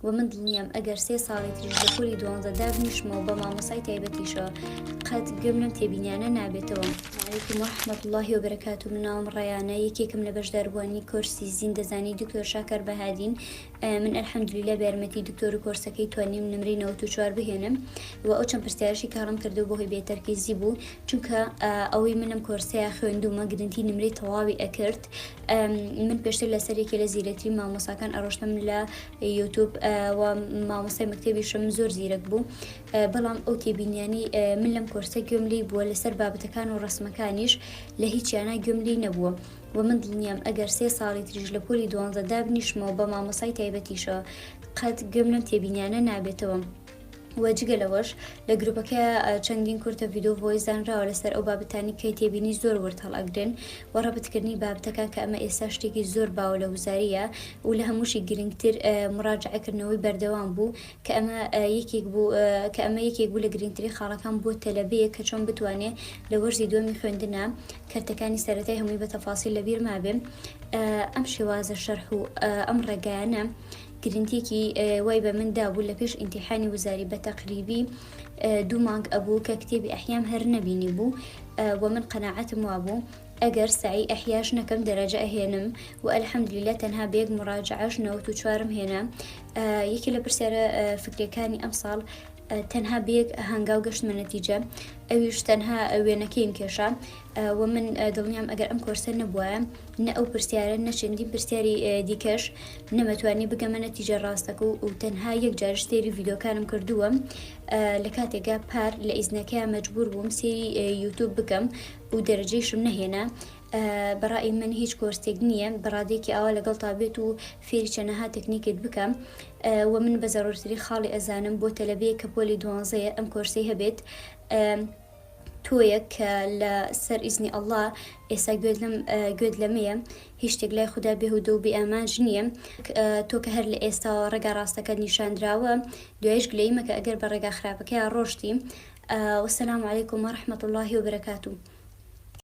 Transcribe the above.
وە من دڵنیام ئەگەر سێ ساڵی تریش لە پۆلی دوانزە دابنیشمەوە بە مامۆسای تایبەتیشەوە قەت گوێم لەم تێبینیانە نابێتەوە. علیکم ورحمە اللە وبرکاتوو من ناوم ڕەیانە یەکێکم لە بەشداربوانی کۆرسی زیندەزانی دکتۆر شاکار بەهادین من الحمدللە بە یارمەتی دکتۆر و کۆرسەکەی توانیم نمرەی نەوەت و چوار بهێنم و ئەو چەند پرسیارشی کە هەڵم کردو بەهۆی بێتەرکیزی بوو چونکە ئەوەی منم کۆرسەیە خوێندومە گرنتی نمرەی تەواوی ئەکرد من پێشتر لەسەر یەکێ لە زیرەکترین مامۆساکان ئەڕۆشتم لە یوتوب و مامۆسای مەکتتەبیشم زۆر زیرەک بوو بەڵام ئەو تێبینیانی من لەم کۆرسە گوێم لی بووە لەسەر بابەتەکان و ڕسمەکانیش لە هیچیانە گوێم لی نەبووە و من دڵنیام ئەگەر سێ ساڵی تریش لە پۆلی دوانزە دابنیشمەوە بە مامۆسای تایبەتیشەوە قەت گوێم لەم تێبینیانە نابێتەوە. و جگە لەوەش لە گروپەکە چەندین کورتە ڤیددیو ڤۆیس دانراوە لەسەر ئەو بابەتانی کەی تێبینی زۆر ورد هەڵئەگرن و ڕەبتکردنی بابتەکان کە ئەمە ئێستا شتێکی زۆر باو لە وزاریە و لە هەمووشی گرنگتر مڕاجعکردنەوەی بەردەوام بوو کە ئەمە یەکێک بوو کە ئەمە یەکێک بوو لە گرنگتری خاڵەکان بۆ تەلەبەیە کە چۆن بتوانێ لە وەرزی دووەمی خوێندنە کەرتەکانی سەرەتای هەمووی بە تەفاسی لەبییر مابێ ئەم شێوازە شەرح و ئەم ڕێگایانە گرنتیەکی وای بە من دابوو لە پێش ئینتیحانی وزاری بە تەقریبی دوو مانگ ئەبوو کە کتێبی ئەحیام هەر نەبینی بوو و من قەنەعەتم وابوو ئەگەر سعی ئەحیاش نەکەم دەرەجە ئەهێنم و ئەلحەمدلیلە تەنها بە یەک مڕاجعش نەوت و چوارم هێنا یەکی لە پرسیارە فکرەکانی ئەم ساڵ تەنها بەیەک هەنگاو گەشتمە نەتیجە ئەویش تەنها وێنەکەیم کێشا و من دڵنیام ئەگەر ئەم کۆرسە نەبووە نە ئەو پرسیارە نە چەندین پرسیاری دیکەش نەمەتوانی بگەمە نەتیجە ڕاستەکە و تەنها یەک جارش سێری ڤیدۆکانم کردووە لە کاتێکا پار لە ئیزنەکەیان مەجبور بووم سێری یوتوب بکەم و دەرەجەیشم نەهێنا بەڕای من هیچ کۆرسێک نییە بەڕادێکی ئاوا لەگەڵ تا بێت و فێری چەنەها تەکنیکت بکەم و من بە زەڕورتری خاڵی ئەزانم بۆ تەلەبەیە کە پۆلی دوانزەیە ئەم کۆرسی هەبێت تۆیەک کە لە سەر ئیزنی اللە ئێستا گوێت لەم گوێت لەمەیە هیچ شتێک لای خودا بێهودە و بێ ئامانج نییە تۆ کە هەر لە ئێستاوە ڕێگا ڕاستەکەت نیشاندراوە دوایش گلەیی مەکە ئەگەر بە ڕێگا خراپەکەیا ڕۆشتی وسلام علیکم و رحمەت اللە و برکاتو.